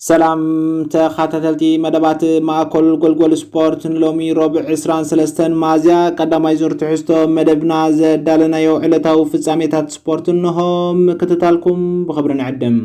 ሰላም ተኻታተልቲ መደባት ማእኮል ጎልጎል ስፖርት ንሎሚ ሮብዕ ዕስራን ሰለስተን ሚያዝያ ቀዳማይ ዙር ትሕዝቶ መደብና ዘዳለናዮ ዕለታዊ ፍጻሜታት ስፖርት እንሆ ምክትታልኩም ብኽብሪ ንዕድም።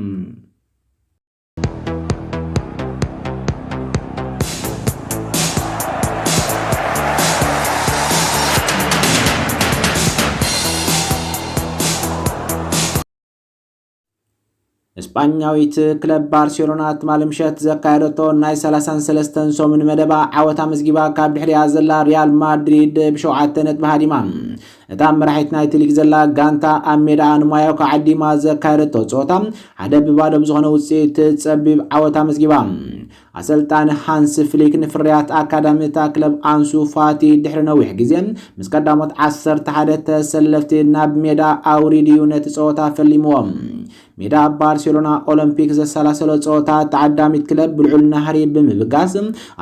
እስጳኛዊት ክለብ ባርሴሎና ትማሊ ምሸት ዘካየደቶ ናይ 33 ሰሙን መደባ ዓወት ኣመዝጊባ ካብ ድሕሪያ ዘላ ሪያል ማድሪድ ብሸውዓተ ነጥቢ ሃዲማ እታ መራሒት ናይቲ ሊግ ዘላ ጋንታ ኣብ ሜዳኣ ንማዮካ ዓዲማ ዘካየደቶ ፀወታ ሓደ ብባዶ ብዝኾነ ውፅኢት ፀቢብ ዓወት ኣመዝጊባ ኣሰልጣኒ ሃንሲ ፍሊክ ንፍርያት ኣካዳሚ እታ ክለብ ኣንሱ ፋቲ ድሕሪ ነዊሕ ግዜ ምስ ቀዳሞት ዓሰርተ ሓደ ተሰለፍቲ ናብ ሜዳ ኣውሪዱ እዩ ነቲ ጸወታ ፈሊምዎ። ሜዳ ባርሴሎና ኦሎምፒክ ዘሰላሰሎ ጸወታ ተዓዳሚት ክለብ ብልዑል ናህሪ ብምብጋስ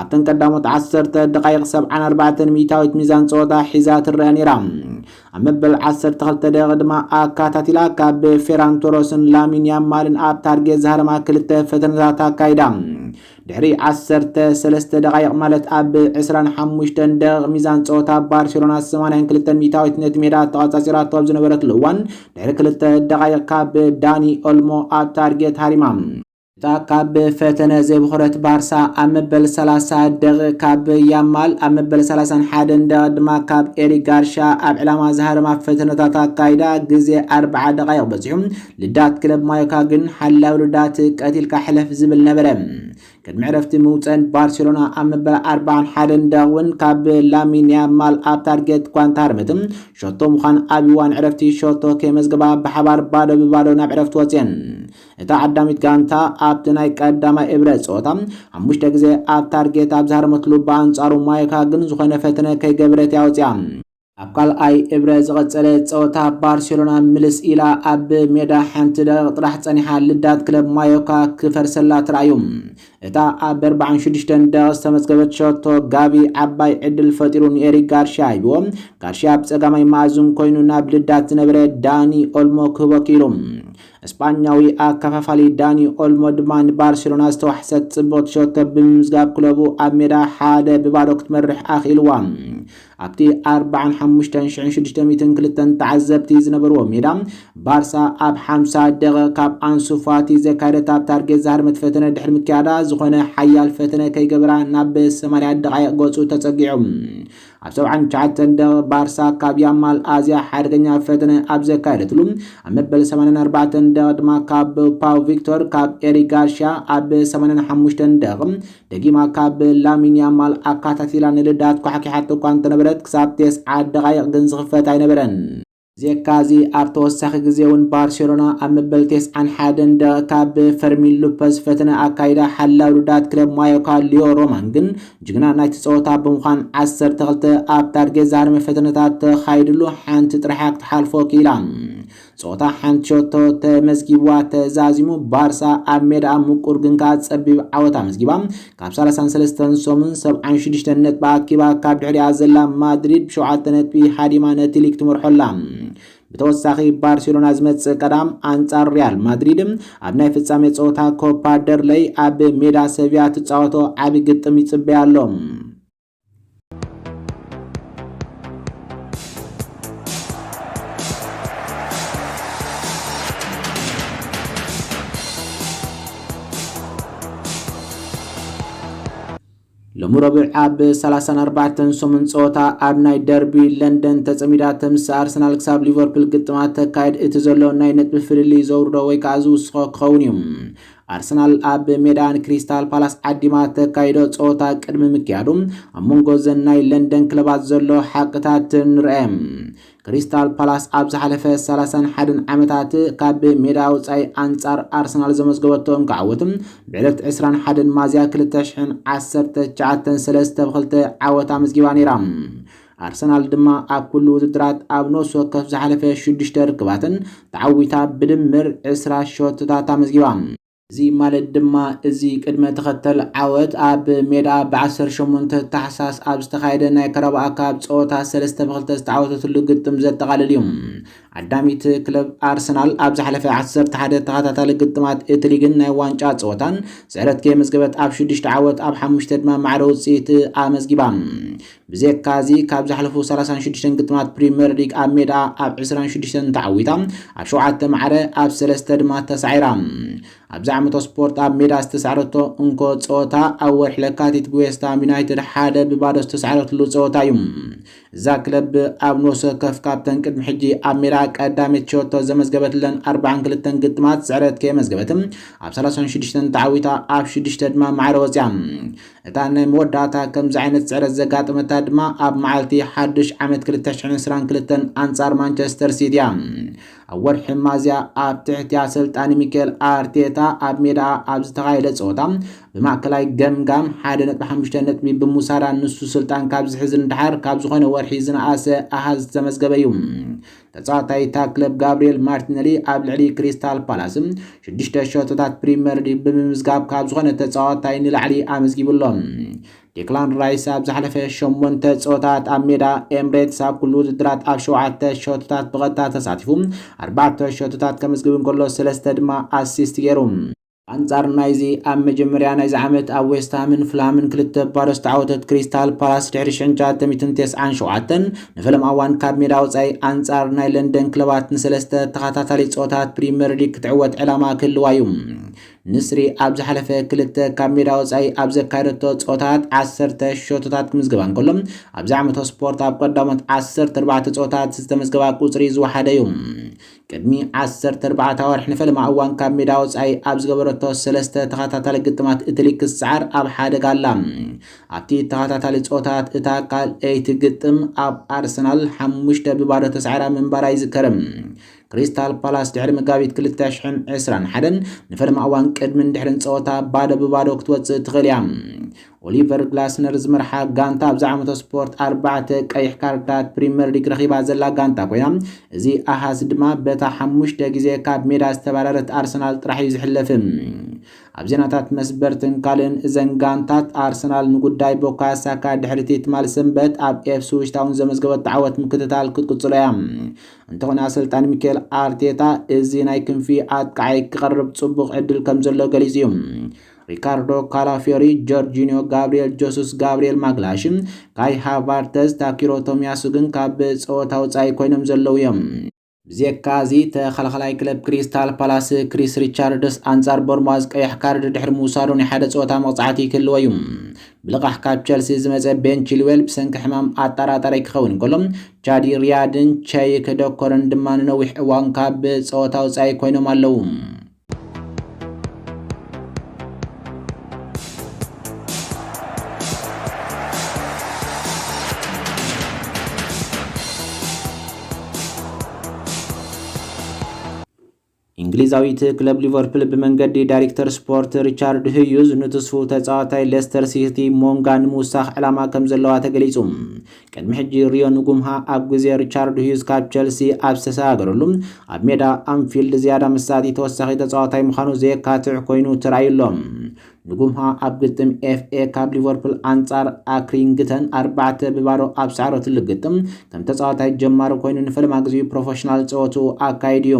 ኣብተን ቀዳሞት ዓሰርተ ደቓይቕ ሰብዓን ኣርባዕተን ሚእታዊት ሚዛን ጸወታ ሒዛ ትረአ ነይራ። ኣብ መበል ዓሰርተ ክልተ ደቂቕ ድማ ኣካታቲላ ካብ ፌራን ቶሮስን ላሚን ያማልን ኣብ ታርጌት ዝሃረማ ክልተ ፈተነታት ኣካይዳ ድሕሪ ዓሰርተ ሰለስተ ደቓይቕ ማለት ኣብ ዕስራን ሓሙሽተን ደቂቕ ሚዛን ፀወታ ባርሴሎና ሰማንያን ክልተ ሚእታዊት ነቲ ሜዳ ተቐፃፂራቶ ኣብ ዝነበረትሉ እዋን ድሕሪ ክልተ ደቓይቕ ካብ ዳኒ ኦልሞ ኣብ ታርጌት ሃሪማ እታ ካብ ፈተነ ዘይበኹረት ባርሳ ኣብ መበል ሰላሳ ደቒቕ ካብ ያማል ኣብ መበል ሰላሳን ሓደን ደቒቕ ድማ ካብ ኤሪክ ጋርሻ ኣብ ዕላማ ዝሃረማ ፈተነታት ኣካይዳ ግዜ ኣርብዓ ደቓይቕ በጺሑ ልዳት ክለብ ማዮካ ግን ሓላዊ ልዳት ቀቲልካ ሕለፍ ዝብል ነበረ ቅድሚ ዕረፍቲ ምውፀን ባርሴሎና ኣብ መበል ኣርባዓን ሓደን ደቒቕ እውን ካብ ላሚን ያማል ኣብ ታርጌት እኳ እንተሃረመት ሸቶ ምዃን ኣብ እዋን ዕረፍቲ ሸቶ ከይመዝገባ ብሓባር ባዶ ብባዶ ናብ ዕረፍቲ ወፅየን እታ ዓዳሚት ጋንታ ኣብቲ ናይ ቀዳማይ እብረ ጸወታ ሓሙሽተ ግዜ ኣብ ታርጌት ኣብ ዝሃረመትሉ ብኣንጻሩ ማዮካ ግን ዝኾነ ፈተነ ከይገበረት እያ ወጺኣ። ኣብ ካልኣይ እብረ ዝቐጸለ ጸወታ ባርሴሎና ምልስ ኢላ ኣብ ሜዳ ሓንቲ ደቂቕ ጥራሕ ጸኒሓ ልዳት ክለብ ማዮካ ክፈርሰላ ተራእዩ። እታ ኣብ ኣርባዓን ሽዱሽተን ደቂቕ ዝተመዝገበት ሸቶ ጋቪ ዓባይ ዕድል ፈጢሩ ንኤሪክ ጋርሽያ ሂብዎ። ጋርሽያ ብጸጋማይ መኣዝን ኮይኑ ናብ ልዳት ዝነበረ ዳኒ ኦልሞ ክህቦ ክኢሉ። ስጳኛዊ ኣከፋፋሊ ዳኒ ኦልሞ ድማ ንባርሴሎና ዝተዋሕሰት ጽብቕቲ ሸቶ ብምምዝጋብ ክለቡ ኣብ ሜዳ ሓደ ብባዶ ክትመርሕ ኣኽኢልዋ። ኣብቲ 45,602 ተዓዘብቲ ዝነበርዎ ሜዳ ባርሳ ኣብ 50 ደቂቕ ካብ ኣንሱ ፋቲ ዘካየደት ኣብ ታርጌት ዝሃደመት ፈተነ ድሕሪ ምክያዳ ዝኾነ ሓያል ፈተነ ከይገበራ ናብ 80 ደቓይቕ ገጹ ተጸጊዑ ኣብ ሰብዓን ትሽዓተን ደቒቕ ባርሳ ካብ ያማል ኣዝያ ሓደገኛ ፈተነ ኣብ ዘካየደትሉ፣ ኣብ መበል ሰማንያን ኣርባዕተን ደቒቕ ድማ ካብ ፓው ቪክቶር ካብ ኤሪክ ጋርሽያ፣ ኣብ ሰማንያን ሓሙሽተን ደቒቕ ደጊማ ካብ ላሚን ያማል ኣካታቲላ ንልዳት ኳሕኪሓቶ እኳ እንተነበረት ክሳብ ቴስዓ ደቓይቕ ግን ዝኽፈት ኣይነበረን። ብዜካ እዚ ኣብ ተወሳኺ ግዜ እውን ባርሴሎና ኣብ መበል ቴስዓን ሓደን ደቐካ ብፈርሚን ሉፐዝ ፈተነ ኣካይዳ ሓላው ሉዳት ክለብ ማዮካ ሊዮ ሮማን ግን ጅግና ናይቲ ጸወታ ብምዃን ዓሰርተ ክልተ ኣብ ታርጌት ዝሃረመ ፈተነታት ተኻይድሉ ሓንቲ ጥራሕያ ክትሓልፎ ክኢላ ጸወታ ሓንቲ ሸቶ ተመዝጊብዋ ተዛዚሙ ባርሳ ኣብ ሜዳኣ ምቁር ግን ከኣ ጸቢብ ዓወት ኣመዝጊባ ካብ ሳልሳን ሰለስተን ሰሙን ሰብዓን ሽዱሽተን ነጥቢ ኣኪባ ካብ ድሕሪኣ ዘላ ማድሪድ ብሸውዓተ ነጥቢ ሃዲማ ነቲ ሊግ ትመርሖ ኣላ። ብተወሳኺ ባርሴሎና ዝመጽእ ቀዳም ኣንጻር ሪያል ማድሪድ ኣብ ናይ ፍጻሜ ጸወታ ኮፓ ደርለይ ኣብ ሜዳ ሰቪያ ትጻወቶ ዓቢ ግጥም ይጽበያ ኣሎ። ሎሚ ረቡዕ ኣብ 34 ሰሙን ፀወታ ኣብ ናይ ደርቢ ለንደን ተፀሚዳ ተምስ ኣርሰናል ክሳብ ሊቨርፑል ግጥማት ተካየድ እቲ ዘሎ ናይ ነጥቢ ፍልልይ ዘውርዶ ወይ ከዓ ዝውስኾ ክኸውን እዩ ኣርሰናል ኣብ ሜዳ ንክሪስታል ፓላስ ዓዲማ ተካይዶ ጸወታ ቅድሚ ምክያዱ ኣብ መንጎ ዘን ናይ ለንደን ክለባት ዘሎ ሓቅታት ንርአ። ክሪስታል ፓላስ ኣብ ዝሓለፈ 31 ዓመታት ካብ ሜዳ ወጻኢ ኣንጻር ኣርሰናል ዘመዝገበቶ እንካ ዓወት ብዕለት 21 ማዝያ 2019 ሰለስተ ብ2 ዓወት ኣመዝጊባ ነይራ። ኣርሰናል ድማ ኣብ ኩሉ ውድድራት ኣብ ነፍሲ ወከፍ ዝሓለፈ ሽዱሽተ ርክባተን ተዓዊታ ብድምር ዕስራ ሸቶታት ኣመዝጊባ። እዚ ማለት ድማ እዚ ቅድመ ተኸተል ዓወት ኣብ ሜድኣ ብ ዓሰርተ ሸሞንተ ታሕሳስ ኣብ ዝተኻየደ ናይ ካራባኦ ካፕ ጸወታ ሰለስተ ብ ክልተ ዝተዓወተትሉ ግጥም ዘጠቓልል እዩ። ዓዳሚት ክለብ ኣርሰናል ኣብ ዝሓለፈ ዓሰርተ ሓደ ተኸታታሊ ግጥማት እቲ ሊግን ናይ ዋንጫ ጸወታን ስዕረት ከየመዝገበት ብ ሽዱሽተ ዓወት ብ ሓሙሽተ ድማ ማዕረ ውጽኢት ኣመዝጊባ። ብዘይካ እዚ ካብ ዝሓለፉ ሰላሳን ሽዱሽተን ግጥማት ፕሪመር ሊግ ኣብ ሜድኣ ኣብ ዕስራን ሽዱሽተን ተዓዊታ ኣብ ሸውዓተ ማዕረ ኣብ ሰለስተ ድማ ተሳዒራ። ኣብዚ ዓመቶ ስፖርት ኣብ ሜዳ ዝተሳዕረቶ እንኮ ጸወታ ኣብ ወርሒ ለካቲት ብዌስትሃም ዩናይትድ ሓደ ብባዶ ዝተሳዕረትሉ ጸወታ እዩ። እዛ ክለብ ብ ኣብ ኖስ ወከፍ ካብተን ቅድሚ ሕጂ ኣብ ሜድኣ ቀዳሜት ሸቶ ዘመዝገበትለን ኣርብዓን ክልተን ግጥማት ስዕረት ከየመዝገበት ኣብ ሰላሳን ሽዱሽተን ተዓዊታ ኣብ ሽዱሽተ ድማ ማዕረ ወጺኣ። እታ ናይ መወዳእታ ከምዚ ዓይነት ስዕረት ዘጋጠመታ ድማ ኣብ መዓልቲ ሓዱሽ ዓመት ክልተ ሽሕን ዕስራን ክልተን ኣንጻር ማንቸስተር ሲቲ እያ። ኣብ ወርሒ ሚያዝያ ኣብ ትሕቲ ኣሰልጣኒ ሚካኤል ኣርቴታ ኣብ ሜዳኣ ኣብ ዝተኻየደ ጸወታ ብማእከላይ ገምጋም ሓደ ነጥቢ ሓሙሽተ ነጥቢ ብምውሳዳ ንሱ ስልጣን ካብ ዝሕዝን ደሓር ካብ ዝኾነ ወርሒ ዝነኣሰ ኣሃዝ ዝተመዝገበ እዩ። ተጻዋታይ እታ ክለብ ጋብሪኤል ማርቲነሊ ኣብ ልዕሊ ክሪስታል ፓላስ ሽዱሽተ ሸቶታት ፕሪምየር ሊግ ብምምዝጋብ ካብ ዝኾነ ተጻዋታይ ንላዕሊ ኣመዝጊቡ ኣሎ። ዴክላን ራይስ ኣብ ዝሓለፈ ሸሞንተ ጸወታት ኣብ ሜዳ ኤምሬትስ ኣብ ኩሉ ውድድራት ኣብ ሸውዓተ ሸቶታት ብቐጥታ ተሳቲፉ ኣርባዕተ ሸቶታት ከመዝግብ እንከሎ ሰለስተ ድማ ኣሲስት ገይሩ። ኣንጻር ናይዚ ኣብ መጀመርያ ናይዚ ዓመት ኣብ ዌስትሃምን ፍልሃምን ክልተ ባዶ ዝተዓወተት ክሪስታል ፓላስ ድሕሪ ሽሕን ትሽዓተ ሚእትን ተስዓን ሸውዓተን ንፈለማ እዋን ካብ ሜዳ ወጻኢ ኣንጻር ናይ ለንደን ክለባት ንሰለስተ ተኸታታሊ ጸወታት ፕሪመር ሊግ ክትዕወት ዕላማ ክህልዋ እዩ። ንስሪ ኣብ ዝሓለፈ ክልተ ካብ ሜዳ ወጻኢ ኣብ ዘካየደቶ ጸወታት ዓሰርተ ሸቶታት ክምዝገባ እንከሎ ኣብዚ ዓመተ ስፖርት ኣብ ቀዳሞት ዓሰርተ ኣርባዕተ ጸወታት ዝተመዝገባ ቁጽሪ ዝወሓደ እዩ። ቅድሚ ዓሰርተ ኣርባዕተ ኣዋርሕ ንፈለማ እዋን ካብ ሜዳ ወጻኢ ኣብ ዝገበረቶ ሰለስተ ተኸታታሊ ግጥማት እቲ ሊግ ክትሰዓር ኣብ ሓደጋ ኣላ። ኣብቲ ተኸታታሊ ጸወታት እታ ካልኣይቲ ግጥም ኣብ ኣርሰናል ሓሙሽተ ብባዶ ተሳዒራ ምንባራ ይዝከር። ክሪስታል ፓላስ ድሕሪ መጋቢት ክልተ ሽሕን ዕስራን ሓደን ንፈለማ እዋን ቅድምን ድሕርን ጸወታ ባዶ ብባዶ ክትወጽእ ትኽእል እያ። ኦሊቨር ግላስነር ዝመርሓ ጋንታ ኣብዚ ዓመተ ስፖርት ኣርባዕተ ቀይሕ ካርድታት ፕሪምየር ሊግ ረኺባ ዘላ ጋንታ ኮይና እዚ ኣሃዝ ድማ በታ ሓሙሽተ ግዜ ካብ ሜዳ ዝተባረረት ኣርሰናል ጥራሕ እዩ ዝሕለፍ። ኣብ ዜናታት መስበርትን ካልእን እዘን ጋንታት ኣርሰናል ንጉዳይ ቦካዮ ሳካ ድሕሪቲ ትማል ሰንበት ኣብ ኤፕስዊች ታውን ዘመዝገበቶ ዓወት ምክትታል ክትቅጽሎ እያ። እንተኾነ ኣሰልጣኒ ሚካኤል ኣርቴታ እዚ ናይ ክንፊ ኣጥቃዓይ ክቐርብ ጽቡቕ ዕድል ከም ዘሎ ገሊጹ እዩ። ሪካርዶ ካላፊዮሪ፣ ጆርጂኒዮ ጋብሪኤል ጆሱስ፣ ጋብሪኤል ማግላሽን ካይ ሃቫርተዝ፣ ታኪሮ ቶሚያሱ ግን ካብ ጸወታ ወጻኢ ኮይኖም ዘለዉ እዮም። ብዜካ እዚ ተኸላኻላይ ክለብ ክሪስታል ፓላስ ክሪስ ሪቻርድስ ኣንጻር ቦርማዝ ቀያሕ ካርድ ድሕሪ ምውሳዱ ናይ ሓደ ጸወታ መቕጻዕቲ ክህልዎ እዩ። ብልቓሕ ካብ ቸልሲ ዝመጸ ቤን ቺልዌል ብሰንኪ ሕማም ኣጠራጣሪ ክኸውን እንከሎ ቻዲ ሪያድን ቸይክ ደኮርን ድማ ንነዊሕ እዋን ካብ ጸወታ ውጻኢ ኮይኖም ኣለዉ። እንግሊዛዊት ክለብ ሊቨርፑል ብመንገዲ ዳይሬክተር ስፖርት ሪቻርድ ህዩዝ ንትስፉ ተጻዋታይ ሌስተር ሲቲ ሞንጋ ንምውሳኽ ዕላማ ከም ዘለዋ ተገሊጹ። ቅድሚ ሕጂ ሪዮ ንጉምሃ ኣብ ግዜ ሪቻርድ ሁዩዝ ካብ ቸልሲ ኣብ ዝተሰጋገረሉ ኣብ ሜዳ ኣንፊልድ ዝያዳ መሳጢ ተወሳኺ ተጻዋታይ ምዃኑ ዘየካትዕ ኮይኑ ተራእዩ ኣሎ። ንጉምሃ ኣብ ግጥም ኤፍኤ ካብ ሊቨርፑል ኣንጻር ኣክሪንግተን ኣርባዕተ ብባዶ ኣብ ሰዓረትሉ ግጥም ከም ተጻዋታይ ጀማሪ ኮይኑ ንፈለማ ግዜኡ ፕሮፈሽናል ጸወትኡ ኣካይዱ እዩ።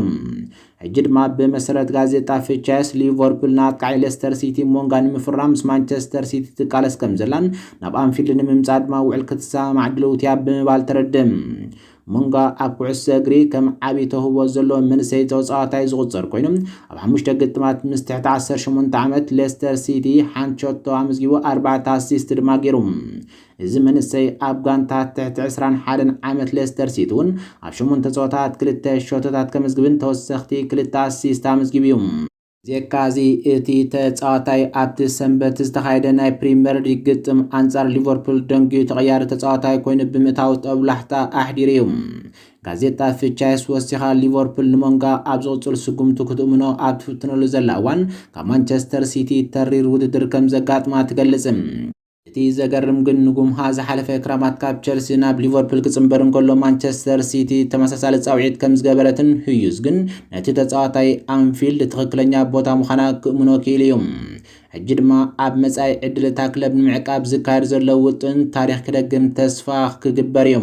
ሕጂ ድማ ብመሰረት ጋዜጣ ፍቻየስ፣ ሊቨርፑል ንኣጥቃዒ ሌስተር ሲቲ ሞንጋ ንምፍራም ምስ ማንቸስተር ሲቲ ትቃለስ ከምዘላን ናብ ኣንፊልድ ንምምጻእ ድማ ውዕል ክትሰማማዕ ድልውቲ'ያ ብምባል ተረድእ። ሞንጋ ኣብ ኩዕሶ እግሪ ከም ዓቢ ተውህቦ ዘለዎ መንእሰይ ተጻዋታይ ዝቑጸር ኮይኑ፣ ኣብ ሓሙሽተ ግጥማት ምስ ትሕቲ ዓሰርተ ሸሞንተ ዓመት ሌስተር ሲቲ ሓንቲ ሸቶ ኣመዝጊቡ ኣርባዕተ ኣሲስት ድማ ገይሩ። እዚ መንእሰይ ኣብ ጋንታ ትሕቲ ዕስራን ሓደን ዓመት ሌስተር ሲቲ እውን ኣብ ሸሞንተ ጸወታት ክልተ ሸቶታት ከምዝግብን ተወሰኽቲ ክልተ ኣሲስት ኣመዝጊቡ እዩ። ብዜካ እዚ እቲ ተጻዋታይ ኣብቲ ሰንበት ዝተኻየደ ናይ ፕሪመር ሊግ ግጥም ኣንጻር ሊቨርፑል ደንጊዩ ተቐያሪ ተጻዋታይ ኮይኑ ብምእታው ጦብላሕታ ኣሕዲሩ እዩ። ጋዜጣ ፍቻይስ ወሲኻ ሊቨርፑል ንሞንጋ ኣብ ዝቕጽል ስጉምቱ ክትእምኖ ኣብ ትፍትነሉ ዘላ እዋን ካብ ማንቸስተር ሲቲ ተሪር ውድድር ከምዘጋጥማ ትገልጽ። እቲ ዘገርም ግን ንጉምሃ ዝሓለፈ ክራማት ካብ ቸልሲ ናብ ሊቨርፑል ክጽንበር እንከሎ ማንቸስተር ሲቲ ተመሳሳሊ ጻውዒት ከም ዝገበረትን ህዩዝ ግን ነቲ ተጻዋታይ ኣንፊልድ ትኽክለኛ ቦታ ምዃና ክእምኖ ክኢሉ እዩ። ሕጂ ድማ ኣብ መጻኢ ዕድል እታ ክለብ ንምዕቃብ ዝካየድ ዘሎ ውጥን ታሪኽ ክደግም ተስፋ ክግበር እዩ።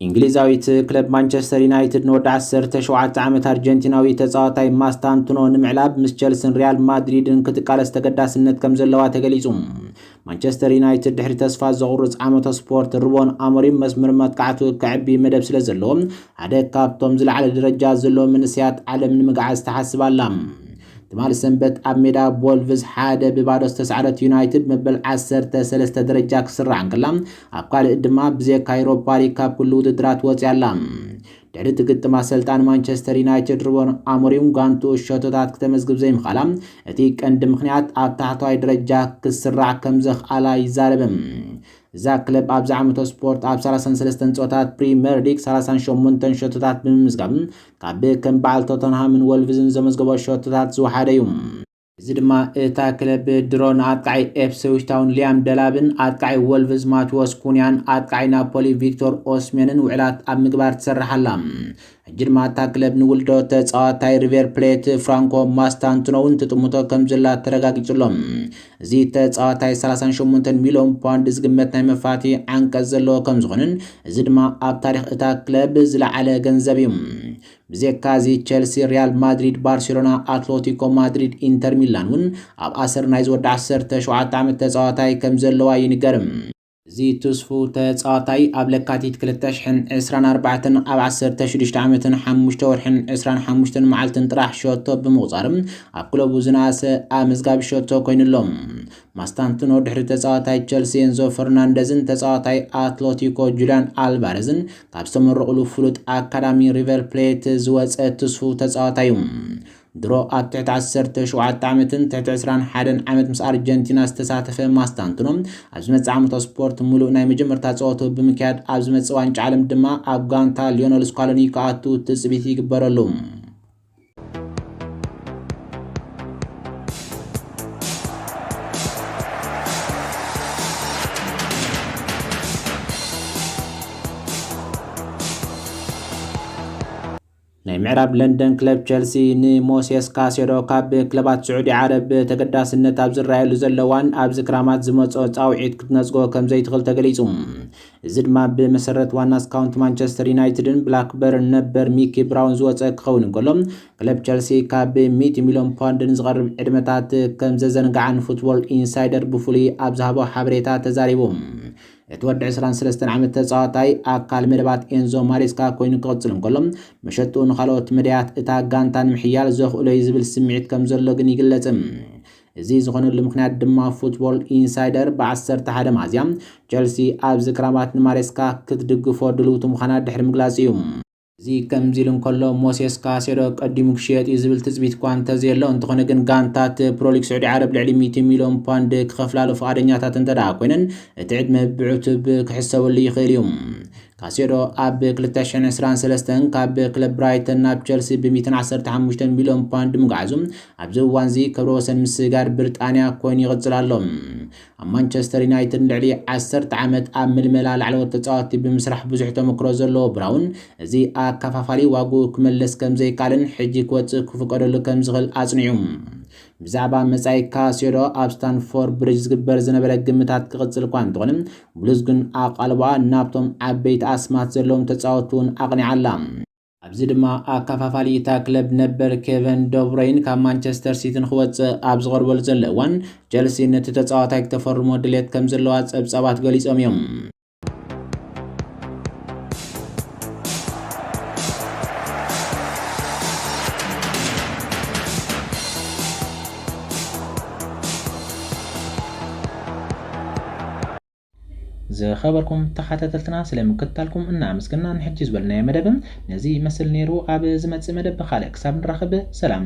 እንግሊዛዊት ክለብ ማንቸስተር ዩናይትድ ንወዲ 17 ዓመት ኣርጀንቲናዊ ተጻዋታይ ማስታንቱኖ ንምዕላብ ምስ ቸልስን ሪያል ማድሪድን ክትቃለስ ተገዳስነት ከም ዘለዋ ተገሊጹ። ማንቸስተር ዩናይትድ ድሕሪ ተስፋ ዘቑርጽ ዓመተ ስፖርት ሩቦን ኣሞሪም መስመር መጥቃዕቱ ከዕቢ መደብ ስለ ዘለዎ ሓደ ካብቶም ዝለዓለ ደረጃ ዘለዎ መንእሰያት ዓለም ንምግዓዝ ትሓስብ ኣላ። ትማል ሰንበት ኣብ ሜዳ ቦልቭዝ ሓደ ብባዶ ዝተሳዕረት ዩናይትድ መበል 13 ደረጃ ክስራዕ እንከላ ኣብ ካልእ ድማ ብዘካ ዩሮፓ ሊግ ካብ ኩሉ ውድድራት ወጽያ ኣላ። ድሕሪ እቲ ግጥም ኣሰልጣኒ ማንቸስተር ዩናይትድ ሩበን ኣሞሪም ጋንትኡ ሸቶታት ክተመዝግብ ዘይምኽኣላ እቲ ቀንዲ ምኽንያት ኣብ ታሕተዋይ ደረጃ ክስራዕ ከም ዘኽኣላ ይዛረብ። እዛ ክለብ ኣብዚ ዓመተ ስፖርት ኣብ 33 ጸወታት ፕሪምየር ሊግ 38 ሸቶታት ብምምዝጋብ ካብ ከም በዓል ቶተንሃምን ወልቭዝን ዘመዝገቦ ሸቶታት ዝወሓደ እዩ። እዚ ድማ እታ ክለብ ብድሮን ኣጥቃዒ ኤፕስዊች ታውን ሊያም ደላብን ኣጥቃዒ ወልቭዝ ማቲዎስ ኩንያን ኣጥቃዒ ናፖሊ ቪክቶር ኦስሜንን ውዕላት ኣብ ምግባር ትሰርሕ ኣላ። ሕጂ ድማ እታ ክለብ ንውልዶ ተጻዋታይ ሪቨር ፕሌት ፍራንኮ ማስታንቱኖ እውን ትጥምቶ ከምዘላ ተረጋጊጹ ኣሎ። እዚ ተጻዋታይ 38 ሚልዮን ፓውንድ ዝግመት ናይ መፋትሒ ዓንቀጽ ዘለዎ ከምዝኾነን እዚ ድማ ኣብ ታሪኽ እታ ክለብ ዝለዓለ ገንዘብ እዩ። ብዜካ እዚ ቸልሲ፣ ሪያል ማድሪድ፣ ባርሴሎና፣ ኣትሎቲኮ ማድሪድ፣ ኢንተር ሚላን ውን ኣብ ኣሰር ናይ ዝወዲ ዓሰርተ ሸውዓተ ዓመት ተጻዋታይ ከም ዘለዋ ይንገር። እዚ ትስፉው ተጻዋታይ ኣብ ለካቲት ክልተ ሽሕን ዕስራን ኣርባዕተን ኣብ ዓሰርተ ሽዱሽተ ዓመትን ሓሙሽተ ወርሕን ዕስራን ሓሙሽተን መዓልትን ጥራሕ ሸቶ ብምቑጻር ኣብ ክለቡ ዝነኣሰ ኣመዝጋቢ ሸቶ ኮይኑ ኣሎ። ማስታንቱኖ ድሕሪ ተጻዋታይ ቸልሲ ኤንዞ ፈርናንደዝን ተጻዋታይ ኣትሎቲኮ ጁልያን ኣልቫረዝን ካብ ዝተመረቑሉ ፍሉጥ ኣካዳሚ ሪቨር ፕሌት ዝወፀ ትስፉው ተፃዋታይ ዩ። ድሮ ኣብ ትሕቲ ዓሰርተ ሸውዓተ ዓመትን ትሕቲ ዕስራን ሓደን ዓመት ምስ ኣርጀንቲና ዝተሳተፈ ማስታንቱኖ ኣብ ዝመፅእ ዓመታዊ ስፖርት ሙሉእ ናይ መጀመርታ ፀወትኡ ብምክያድ ኣብ ዝመፅእ ዋንጫ ዓለም ድማ ኣብ ጋንታ ሊዮነል ስኳሎኒ ክኣቱ ትፅቢት ይግበረሉ። ናይ ምዕራብ ለንደን ክለብ ቸልሲ ንሞሴስ ካሴዶ ካብ ክለባት ስዑዲ ዓረብ ብተገዳስነት ኣብ ዝረኣየሉ ዘለዋን ኣብዚ ክራማት ዝመፅኦ ፃውዒት ክትነፅጎ ከምዘይትኽእል ተገሊፁ። እዚ ድማ ብመሰረት ዋና ስካውንት ማንቸስተር ዩናይትድን ብላክበርን ነበር ሚኪ ብራውን ዝወፀ ክኸውን እንከሎ ክለብ ቸልሲ ካብ ሚእቲ ሚልዮን ፓውንድ ንዝቐርብ ዕድመታት ከምዘዘንግዓን ፉትቦል ኢንሳይደር ብፍሉይ ኣብ ዝሃቦ ሓበሬታ ተዛሪቡ። እቲ ወዲ ዕስራን ሰለስተን ዓመት ተጻዋታይ ኣካል መደባት ኤንዞ ማሬስካ ኮይኑ ክቕጽል እንከሎ መሸጥኡ ንኻልኦት መዳያት እታ ጋንታ ንምሕያል ዘኽእሎ እዩ ዝብል ስምዒት ከምዘሎ ግን ይግለጽ። እዚ ዝኾነሉ ምኽንያት ድማ ፉትቦል ኢንሳይደር ብ ዓሰርተ ሓደ መኣዝያ ቸልሲ ኣብዚ ክራማት ንማሬስካ ክትድግፎ ድልውቲ ምዃና ድሕሪ ምግላጹ እዩ። እዚ ከምዚ ኢሉ እንከሎ ሞሴስ ካሴዶ ቀዲሙ ክሽየጥ እዩ ዝብል ትጽቢት'ኳ እንተዘየሎ፣ እንተኾነ ግን ጋንታት ፕሮሊግ ስዑዲ ዓረብ ልዕሊ ሚእቲ ሚልዮን ፓንድ ክኸፍላሉ ፍቓደኛታት እንተድኣ ኮይነን እቲ ዕድመ ብዕቱብ ክሕሰበሉ ይኽእል እዩ። ካሴዶ ኣብ ክልተ ሽሕን ዕስራን ሰለስተን ካብ ክለብ ብራይተን ናብ ቸልሲ ብሚእትን ዓሰርተ ሓሙሽተን ሚልዮን ፓውንድ ምጉዓዙ ኣብዚ እዋንዚ ክብረ ወሰን ምስጋር ብሪጣንያ ኮይኑ ይቕጽል ኣሎ። ኣብ ማንቸስተር ዩናይትድ ንልዕሊ ዓሰርተ ዓመት ኣብ ምልመላ ላዕለዎት ተጻወትቲ ብምስራሕ ብዙሕ ተመክሮ ዘለዎ ብራውን እዚ ኣከፋፋሊ ዋግኡ ክመልስ ከም ዘይከኣልን ሕጂ ክወጽእ ክፍቀደሉ ከም ዝኽእል ኣጽኒዑ ብዛዕባ መጻኢ ካሴዶ ኣብ ስታንፎርድ ብሪጅ ዝግበር ዝነበረ ግምታት ክቕጽል እኳ እንተኾነ ብሉዝ ግን ኣቓልቦኣ ናብቶም ዓበይቲ ኣስማት ዘለዎም ተጻወትቲ'ውን ኣቕኒዓ ኣላ። ኣብዚ ድማ ኣከፋፋሊ እታ ክለብ ነበር ኬቨን ደብሮይን ካብ ማንቸስተር ሲቲ ንኽወጽእ ኣብ ዝቐርበሉ ዘሎ እዋን፣ ቸልሲ ነቲ ተጻዋታይ ክተፈርሞ ድሌት ከም ዘለዋ ጸብጻባት ገሊጾም እዮም። ዝኸበርኩም ተኻታተልትና ስለ ምክትታልኩም እና ኣመስገና ንሕጂ ዝበልናዮ መደብ ነዚ ይመስል ነይሩ ኣብ ዝመጽእ መደብ ብኻልእ ክሳብ ንራኸብ ሰላም